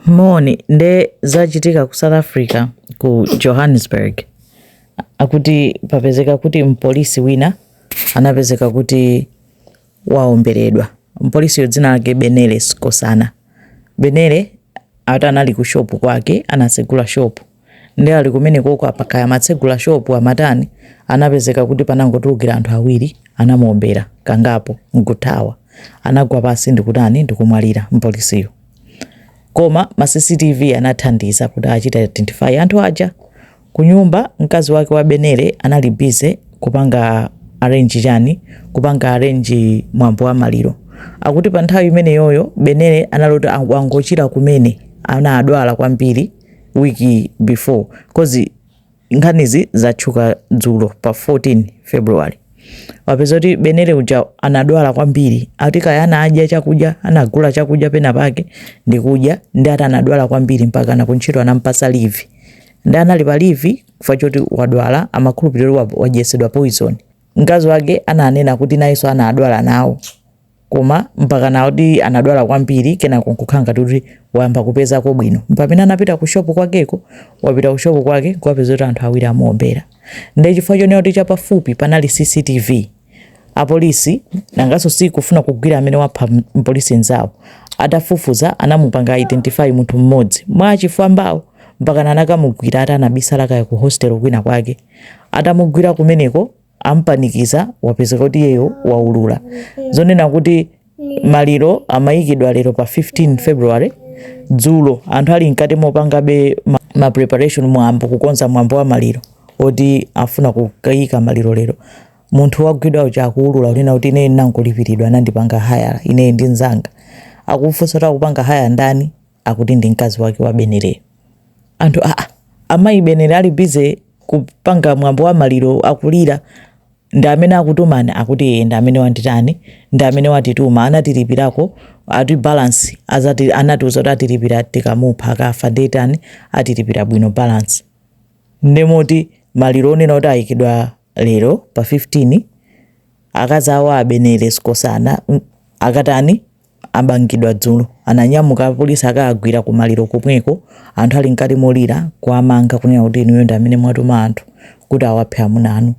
Moni, nde zachitika ku South Africa ku Johannesburg akuti papezeka kuti mpolisi wina anapezeka kuti waomberedwa. Mpolisiyo dzina lake Benele Sikosana. Benele ati anali ku shopu kwake, anasegula shopu Nde ali kumenekoko apa kaya amatsegula shop amatani anapezeka kuti panangotulukira anthu awiri anamuombera kangapo nkuthawa. Anagwa pansi ndikutani ndikumwalira mpolisiyo. Koma ma CCTV anathandiza kuti achite identify anthu aja. Kunyumba mkazi wake wa Benele anali busy kupanga arrange chani kupanga arrange mwambo wa maliro. Akuti pa nthawi imeneyoyo Benele anali kuti wangochira kumene anadwala kwambiri. week before cause nkhanizi zachitika dzulo pa 14 february wapeza kuti Benele uja anadwala kwambiri ati kaya anadya chakudya anagula chakudya pena pake ndikudya nde ati anadwala kwambiri mpaka nakuntchito anampasa leave nde anali pa leave chifukwa choti wadwala amakhulupirira wadyetsedwa poison mkazi wake ananena kuti nayenso anadwala nawo Koma mpakana kuti anadwala kwambiri kenako nkukhala ngati kuti wayamba kupezako bwino. Mpamene anapita ku shopu kwakeko, wapita ku shopu kwake nkukapeza kuti anthu awiri amuombera. Ndiye chifukwa chonena kuti chapafupi panali CCTV, apolisi nanganso sikufuna kugwira amene wapha mpolisi mnzawo. Atafufuza anamupanga identify munthu mmodzi mwa zifwambazo mpakana anakamugwira ati anabisala kaya ku hostel kwina kwake. Atamugwira kumeneko ampanikiza wapezeka kuti iyeyo waulula zonena kuti maliro amayikidwa lero pa 15 february dzulo anthu ali mkati mopangabe ma, ma preparation mwambo kukonza mwambo wa maliro woti afuna kukayika maliro lero munthu wagwidwa uja akuulula kunena kuti ine ndinachita kulipiridwa anandipanga haya ine ndi nzanga akufunsa kuti akupanga haya ndani akuti ndi mkazi wake wa Beneleyo anthu aa a mayi Benele ali busy kupanga mwambo wa maliro akulira ndi amene akutuma akuti ee ndi amene wanditani ndi amene watituma anatilipirako ati balance azati anatiuza kuti atilipira tikamupha akafa ndetani atilipira bwino balance ndemoti maliro onena kuti ayikidwa lero pa 15 akazi awo a Benele Sikosana mm, akatani amangidwa dzulo ananyamuka apolisi akawagwira kumaliro komweko anthu ali mkati molira kuwamanga kunena kuti inuyo ndi amene mwatuma anthu kuti awaphe amuna anu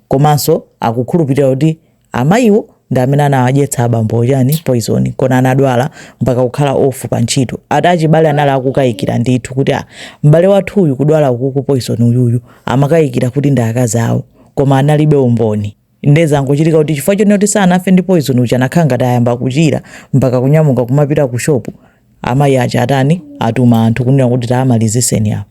komanso akukhulupirira kuti amayiwo ndi amene anawadyetsa abambo chani poison nkuona anadwala mpaka kukhala off pa ntchito ati achibale anali akukayikira ndithu kuti ah, m'bale wathu uyu kudwala kumeneku poison uyuyu amakayikira kuti ndi akazi awo koma analibe umboni Nde zangochitika kuti chifukwa chonena kuti sanafe ndi poison uja anakhala ngati ayamba kuchira mpaka kunyamuka kumapita ku shop. Amayi aja atani atuma anthu kunena kuti tawamaliziseni awa.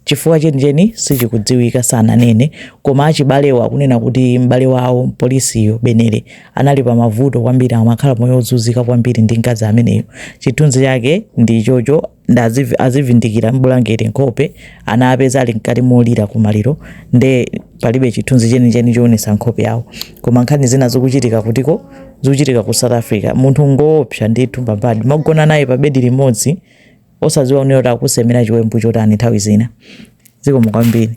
Chifukwa chenicheni sichikudziwika sananene koma achibalewo akunena kuti m'bale wawo mpolisiyo Benele anali pa mavuto kwambiri amakhala moyo wozunzika kwambiri ndi mkazi ameneyu. Chithunzi chake ndi ichocho. nde aziv- azivindikira mbulangeti nkhope anawapeza ali mkati molira kumaliro nde palibe chithunzi chenicheni choonesa nkhope yawo koma nkhani zina zikuchitika kutiko zikuchitika ku south africa munthu ngoopsa ndithu mbambadi umagona naye pa bedi limodzi osadziwa kunena kuti akusemera chiwembu chotani nthawi zina zikomo kwambiri